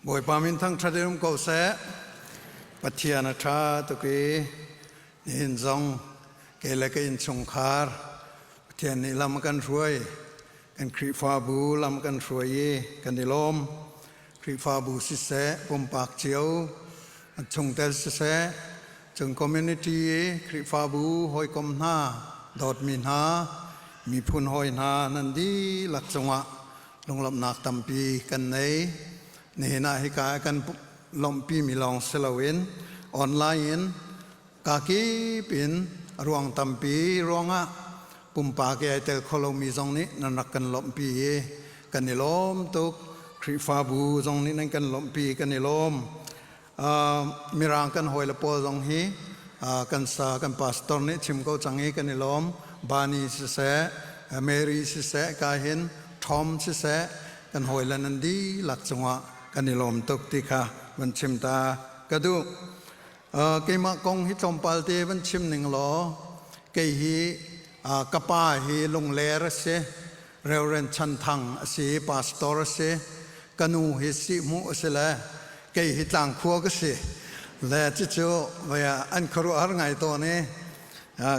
Bawipa min thangṭhat in um ko seh. Pathian a ṭha tuk i nihin zong ke le ka innchungkhar Pathian nih lam a kan hruai. Kan Khrihfabu lam kan hruai i kan i lawm. Khrihfabu siseh, pumpak cio, an chungtel siseh, cung community i Khrihfabu hawikom hna, dawtmi hna, miphun hawi hna nan dihlak cungah lunglawmhnak tampi kan nei. Nihin ah hika ah kan lawmhpimi lawng si loin online in kakip in ruang tampi ruangah pumpak i ai tel kho lomi zong nih nan rak kan lawmhpi i kan i lawm tuk. Khrihfabu zong nih nan kan lawmhpi kan i lawm. Mirang kan hawile pawl zong hi kan pastor nih chim ko cang i kan i lawm. Bani siseh, Mary siseh, kahin Tom siseh, kan hawile nan dihlak cungah kan i lawm tuk ti kha van chim ta ka duh. Keimah kong hi tlawmpal te van chim ning law, kei hi ka pa hi lungler a si. Rev. Chan Thang a si i pastor a si. Ka nu hi Sihhmuh a si le kei hi Tlangkhua ka si. Le cucu vei ah an khuaruahhar ngai tawn i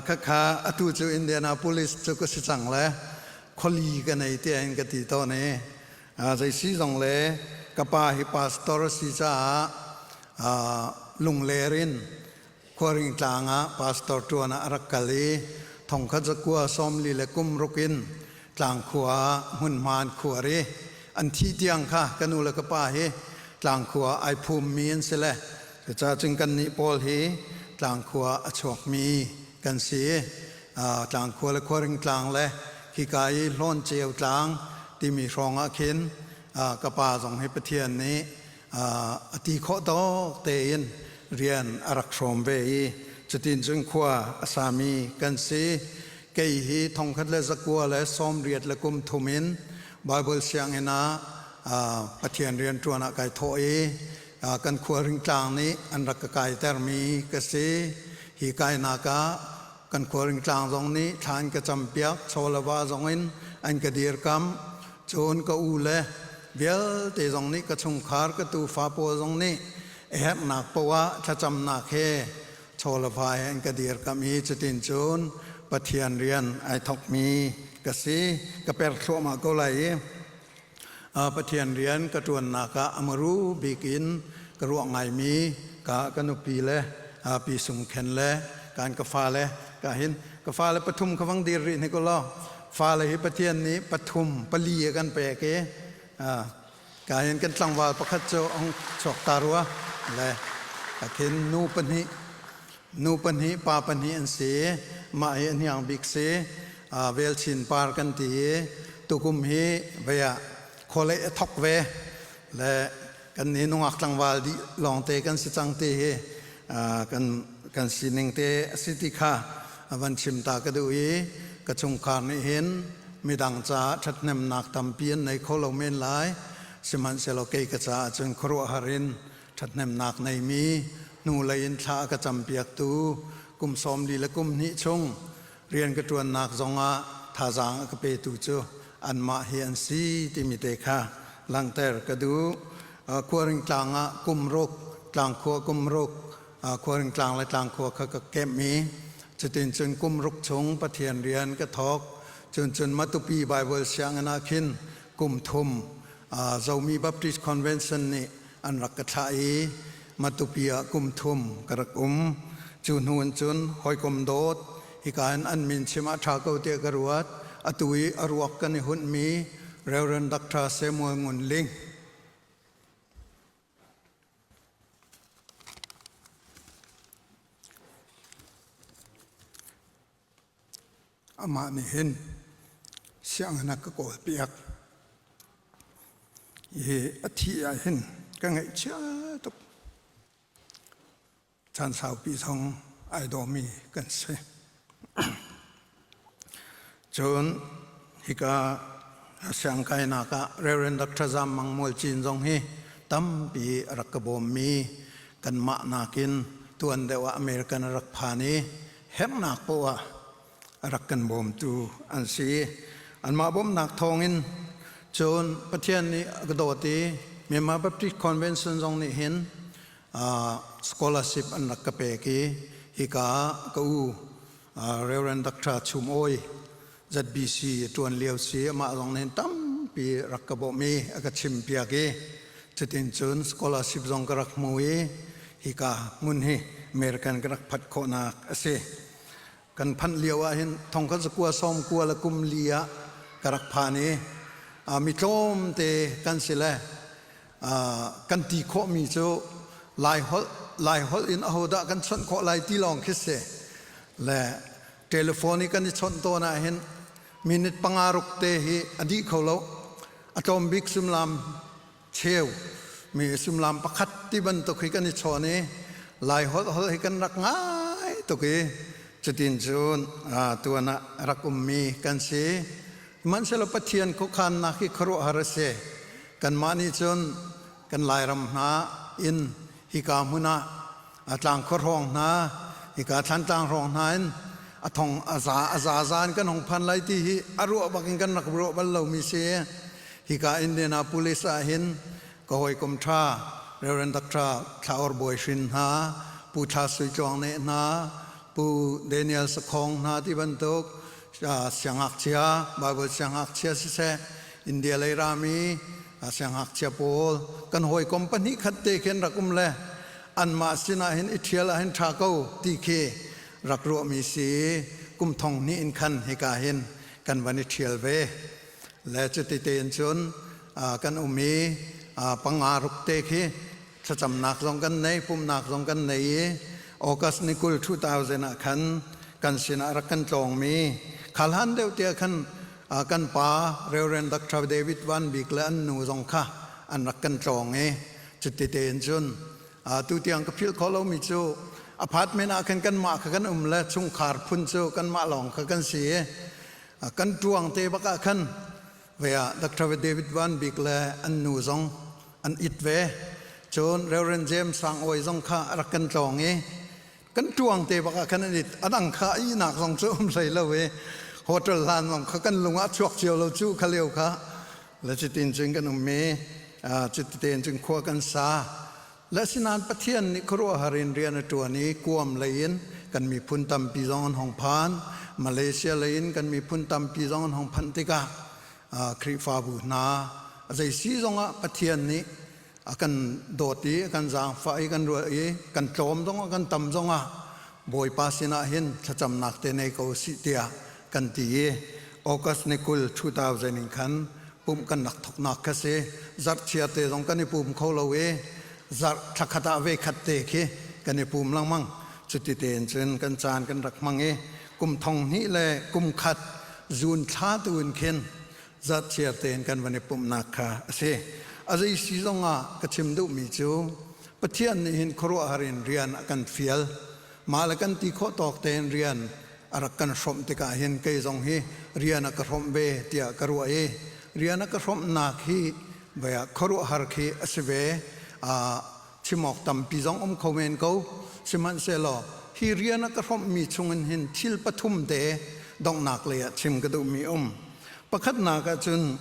khakha atu cu Indianapolis cu ka si cang le khuali ka nei tiah in ka ti tawn i zeisi zong le ka pa hi pastor a si caah lungler in Khuaring tlang ah pastor ṭuan ah a rak kal i thongkhat za kua sawmli le kum ruk in tlang khua ah hmunhma an khuar i an thih tiang kha ka nu le ka pa hi tlang khua ah ai phummi an si le cucaah cun kannih pawl hi tlang khua a chuakmi kan si i tlang khua le khuaring tlang le khika i hlawn ceu tlang timi hrawngah khin ka pa zong hi Pathian nih a ti khawh tawk tein rian a rak hrawm ve i cutin cun khua a sami kan si. Kei hi thongkhat le zakua le sawmriat le kum thum in Baibal sianginn ah Pathian rian ṭuan ah kai thawh i kan khualring tlang nih an rak ka kaitermi ka si. Hi kainak ah kan khualring tlang zong nih thla an ka campiak, chawlava zong in an ka dirkamh. Cun ka ule vialte zong nih ka chungkhar ka tuufa pawl zong nih a herhnak paoh ah thlacamnak he chawlava he an ka dirkamh i cutin cun Pathian rian ai thawkmi ka si, ka per thluahmah ko lai i Pathian rian ka ṭuannak ah a maru bik in ka ruah ngaimi ka ka nupi le Pi Sung Khen le ka an ka fale ka hin ka fale pathum kha vang dir rih hnik ulaw Fale hi Pathian nih pathum pali a kan pek i kain kan tlangval pakhat cu ong chuak ta rua le a thin nu pahnih nu pahnih pa pahnih an si i mah hi a hniang bik si velchin par kan ti i tukum hi vei ah khualei a thok ve le kan ne nungak tlangval dih lawngte kan si cang te hi kan kan sining te a si ti kha van chim ta ka duh i ka chungkhar nih hin midang caah ṭhathnemnak tampi an nei kho lo men lai sihmanhsehlaw kei ka caah cun khuaruahhar in ṭhathnemnak neimi hnulei in thla a ka campiaktu kum sawm li le kum hnih chung Rian ka ṭuannak zongah thazaang a ka petu cu anmah hi an si timi te kha langhter ka duh. Khuaringtlang ah kum ruk, tlangkhua kum ruk, khuaringtlang le tlangkhua kha ka kemh i cutin cun kum ruk chung Pathian rian ka thawk. Cun cun Matupi Baibal sianginn ah khin kum thum Zomi Baptist Convention nih an rak ka thlah i Matupi ah kum thum ka rak um. Cu hnu in cun hawikom dawt, hika in an min chim ah ṭha ko tiah ka ruat. Atu i a ruak kan i hunhmi Rev. Dr. Samuel Ngun Ling, amah nih hin sianginn ah ka kawlpiak i a thih ah hin ka ngaihchia tuk caan saupi thawng ai dawmi kan si cun hika siangkainak ah Reverend Dr. Zam Mang Mual Cin zong hi tampi a rak ka bawmmi kanmah nakin tuan deuh ah American a rak phan i herhnak poah a rak kan bawmtu an si i anmah bawmhnak thawngin cun Pathian nih a ka dawt i Myanmar Baptist Convention zong nih hin scholarship an rak ka pek i hika ah ka u Reverend Dr. Chum Awi ZBC ṭuan lio si amah zong nih tampi rak ka bawmh i a ka chimpiak i cutin cun scholarship zong ka rak hmu i hika hmun hi American ka rak phat khawhnak a si. Kan phanh lio ahhin thongkhat zakua sawmkua le kum li ah ka rak phan i uh, mi tlawmte kan si le uh, kan ti khawhmi cu Lai holh Lai holh in ahodah kan chawnh khawh lai ti lawng khi si le Telephone i kan i chawnh tawn ahhin minute panga ruk te hi a dih kho lo. A tlawm bik suimilam cheu, mi suimilam pakhat ti bantuk hi kan i chawn i Lai holh holh hi kan rak ngai tuk i cutin cun tuan ah rak ummi kan si. Sihmanhsehlaw Pathian khuakhannak hi khuaruahhar a si. Kanmah nih cun kan Lairam hna in hika hmun ah a tlang khua hrawng hna hika thlantlang hrawng hna in a thong a za a za za in kan hong phan lai ti hi a ruah bak in kan rak ruah bal lomi si hika Indianapolis ah hin ka hawikom ṭha Reverend Dr. Thlaor Bawi Hrin hna Pu Thla Sui Tluang Ne hna Pu Daniel Sakhong hna ti bantuk siangngakchia Baibal siangngakchia siseh India lei rami siangngakchia pawl kan hawikom pahnih khat te khi an rak um le anmah sinah hin i ṭhial ah hin ṭha ko ti khi rak ruahmi si kum thong hnih in khan hika hin kan van i ṭhial ve le cuti tein cun kan um i panga ruk te khi Thlacamnak zong kan nei, pumhnak zong kan nei i August ni kul 2000 ah khan kan sinah rak kan tlawngmi, kha hlan deuh tiah khan kan pa Rev. Doctor David Van Bik le an nu zong kha an rak kan tlawng i cuti tein cun tutiang ka philh khawh lomi cu apartment ah khan kanmah kha kan um le chungkhar phun cu kanmah lawng kha kan si i kan ṭuang te bak ah khan Ve ah Doctor David Van Bik le an nu zong an it ve. Cun Rev. James Sang Awi zong kha a rak kan tlawng i kan ṭuang te bak ah khan an it. A dang kha a ihnak zong cu um hlei lo i hotel hlan zong kha kan lung ah a chuak cio lo cu kha lio kha. Le cutin cun kan um i cuti tein cun khua kan sa. Asinain Pathian nih khuaruahhar in rian a ṭuan i Guam lei in kan miphun tampi zong an hung phan. Malaysia lei in kan miphun tampi zong an hung phanh tikah Khrihfabu hna zei si zongah Pathian nih a kan dawt i a kan zaangfah i kan ruah i kan tlawm zongah kan tam zongah Bawipa sinah hin thlacamnak te nei ko u sih tiah kan ti i August ni kul two thousand in khan pumh kan rak thoknak kha si. Zarh chia te zong kan i pum kho lo i zarh thla khat ah ve khat te khi kan i pum lengmang. Cuti tein cun kan caan kan rak hmang i kum thong hnih le kum khat zun thla tuin khin zarh chia tein kan van i pumhnak kha a si. A zei si zong ah ka chim duhmi cu Pathian nih hin khuaruahhar in rian a kan fial. Mah le kan ti khawh tawk tein rian a rak kan hrawmh tikah hin kei zong hi rian a ka hrawmh ve tiah ka ruah i rian a ka hrawmhnak hi vai ah khuaruahhar khi a si ve. Chim awk tampi zong um kho men ko. Sihmanhsehlaw, hi rian a ka hrawmhmi chungin hin thil pathum te donghnak lei ah chim ka duhmi a um. Pakhatnak ah cun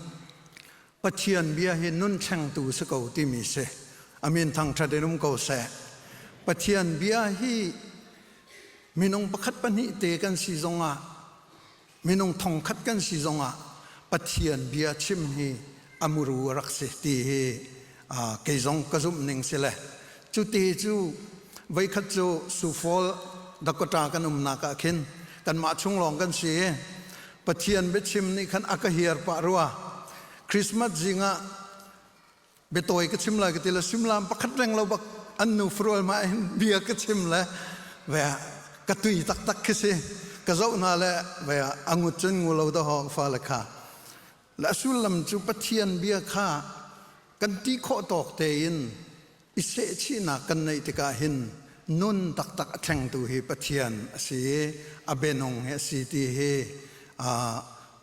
Pathian bia hi nun thlengtu si ko timi si. A min thangṭhat in um ko seh. Pathian bia hi minung pakhat pahnih te kan si zongah, minung thongkhat kan si zongah Pathian bia chim hi a muru a rak si ti hi kei zong ka zumh ning si le cu te cu voikhat cu Sufol, Dakota kan umnak ah khin kanmah chung lawng kan si i Pathian biachim nih khan a ka hiar pah rua. Christmas zing ah biatawi ka chim lai ka ti le suimilam pakhat reng lo bak an nu farual ma in bia ka chim le ve ka tui taktak khi si ka zoh hna le ve a ngut cun ngu lo da ho fa le kha Na sullam cu Pathian bia kha kan ti khawh tawk tein i sehchihnak kan neih tikah hin nun taktak a thlengtu hi Pathian a si i a bianung hi a si ti hi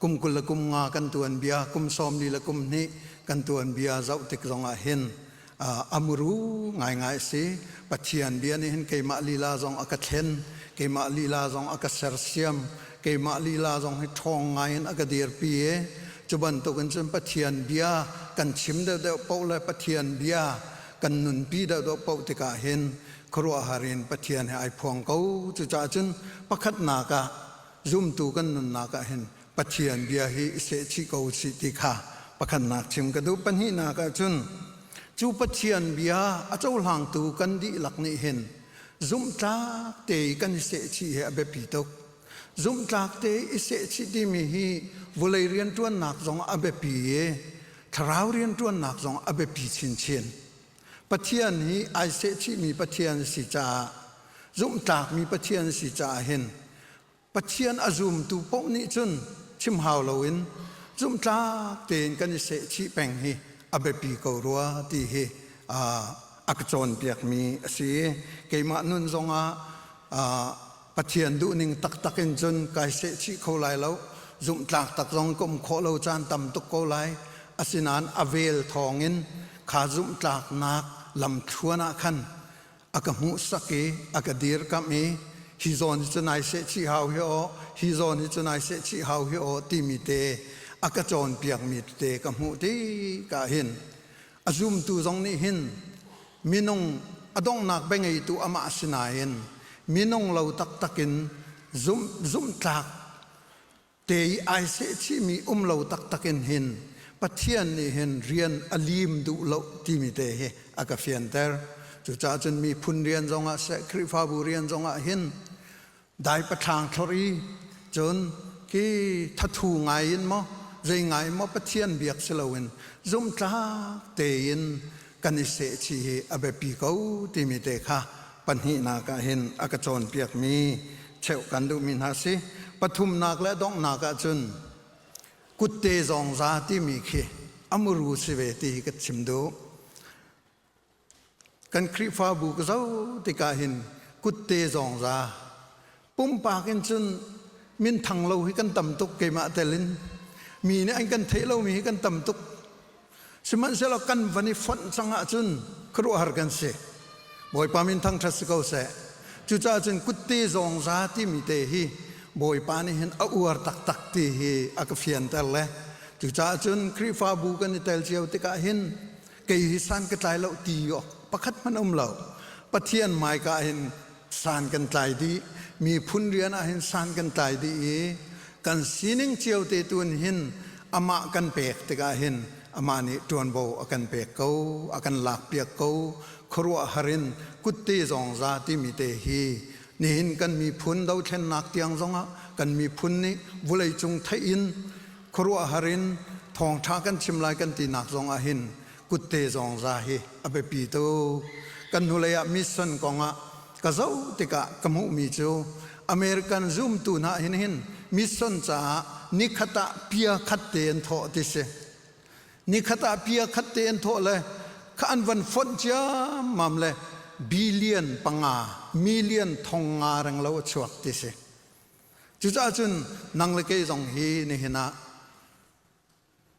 kum kul le kum nga kan tuanbia, kum sawm li le kum hnih kan tuanbia zoh tik zongah hin a muru ngaingai a si pathian bia nih hin keimah lila zong a ka thlen keimah lila zong a ka sersiam keimah lila zong hi ṭhawng ngai in a ka dirpi i cu bantukin cun pathian bia kan chim deuhdeuh poh le pathian bia kan nunpi deuhdeuh poh tikah hin khuaruahhar in pathian he ai phuang ko cucaah cun pakhatnak ah zumtu kan nunnak ah hin Pathian bia hi i sehchih ko usih ti kha pakhatnak chim ka duh. Pahnihnak ah cun, cu Pathian bia a cohlangtu kan dihlak nih hin zumhtlak tein kan i sehchih hi a biapi tuk. Zumhtlak tein i sehchih timi hi vulei rianṭuannak zong a biapi i thlarau rianṭuannak zong a biapi chinchin. Pathian hi ai sehchihmi Pathian a si caah, zumhtlakmi Pathian a si caah hin Pathian a zumtu paoh nih cun chim hau loin zumhtlak tein kan i sehchih peng hi a biapi ko rua ti hi a ka cawnpiakmi a si i keimah nun zongah Pathian duhning taktak in cun kai sehchih kho lai lo. Zumhtlak tak zong ka um khawh lo caan tam tuk ko lai. Asinain a vel thawngin kha zumhtlaknak lamthluan ah khan a ka hmuhsak i a ka dirkamh i hi zawn hi cu nai seh chih hau hi aw, hi zawn hi cu nai seh chih hau hi aw timi te a ka cawnpiakmi tete ka hmuh tika hin a zumtu zong nih hin minung a donghnak biangeitu amah si nain minung lo taktak in zumh zumhtlak Te i ai sehchihmi um lo taktak in hin Pathian nih hin rian a liim duh lo timi te hi a ka fianter. Cucaah cun miphun rian zongah seh Khrihfabu rian zongah hin daipathlaang thlorh i cun hi thathu ngai in maw zei ngai in maw Pathian biak si loin zumhtlak tein kan i sehchih hi a biapi ko timi te kha Pahnihnak ah hin a ka cawnpiakmi cheuh kan duhmi hna si. Pathumnak le donghnak ah cun kutte zongza timi khi a muru si ve ti hi ka chim duh. Kan Khrihfabu ka zo tikah hin kutte zongza Pumpak in cun minthang lo hi kan tam tuk keimah tel in. Mi nih an kan theih lomi hi kan tam tuk. Sihmanhsehlaw kan van i fonh cang ahcun khuaruahhar kan si. Bawipa minthang ṭhat si ko seh. Cucaah cun kutte zawngza timi te hi Bawipa nih hin a uar taktak ti hi a ka fianter le cucaah cun Khrihfabu kan i tel cio tikah hin kei hi san ka tlai lo ti awk pakhat hmanh um lo pathian maika hin san kan tlai dih mi phun rian ah hin san kan tlai dih i kan sining cio te tun hin amah kan pek tikah hin amah nih ṭuanvo a kan pek ko a kan lak piak ko khuaruah harin kutte zong za timi te hi nihin kan miphun dothlennak tiang zongah kan miphun nih vulei cung theih in Khuaruahhar in thawngṭha kan chim lai kan tinak zongah hin kutte zongza hi a biapi tuk. Kan hnulei ah mission kongah ka zoh tikah ka hmuhmi cu American zumtu hna hin hin mission caah nikhat ah pia khat te an thawh ti si. Nikhat ah pia khat te an thawh le kha an van fonh ciammam le billion panga, million thong nga renglo a chuak ti si. Cucaah cun nang le kei zong hi nihin ah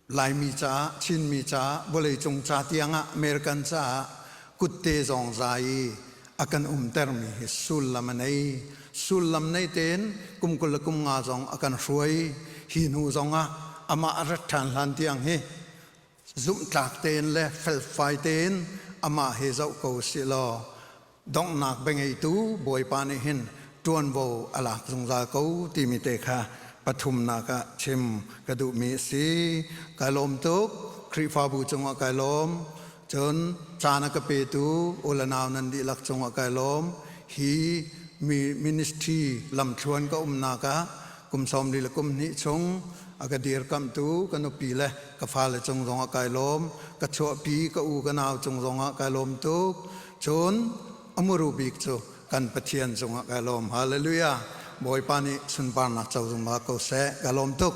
Laimi caah, Chinmi caah, vawleicung ca tiangah, American caah kutte zong za i a kan umtermi hi sullam a nei. Sullam nei tein kum kul le kum nga zong a kan hruai. Hi hnu zongah amah rat ṭhan hlan tiang hi zumhtlak tein le felfai tein amah he zoh ko sih law donghnak biangeitu Bawipa nih hin ṭuanvo a lak zungzal ko timi te kha pathumnak ah chim ka duhmi a si. Kai lawm tuk, Khrihfabu cungah kai lawm. Cun caan a ka petu u le nau nan dihlak cungah kai lawm. Hi ministry lamthluan ka umnak ah kum sawmli le kum hnih chung a ka dirkamhtu ka nupi le ka fale cung zong ah kai lawm, ka chuahpi ka u ka nau cung zong ah kai lawm tuk. Cun a muru bik cu kan Pathian cung ah kai lawm. Hallelujah! Bawipa nih sunparnak co zungzal ko seh. Ka lawm tuk.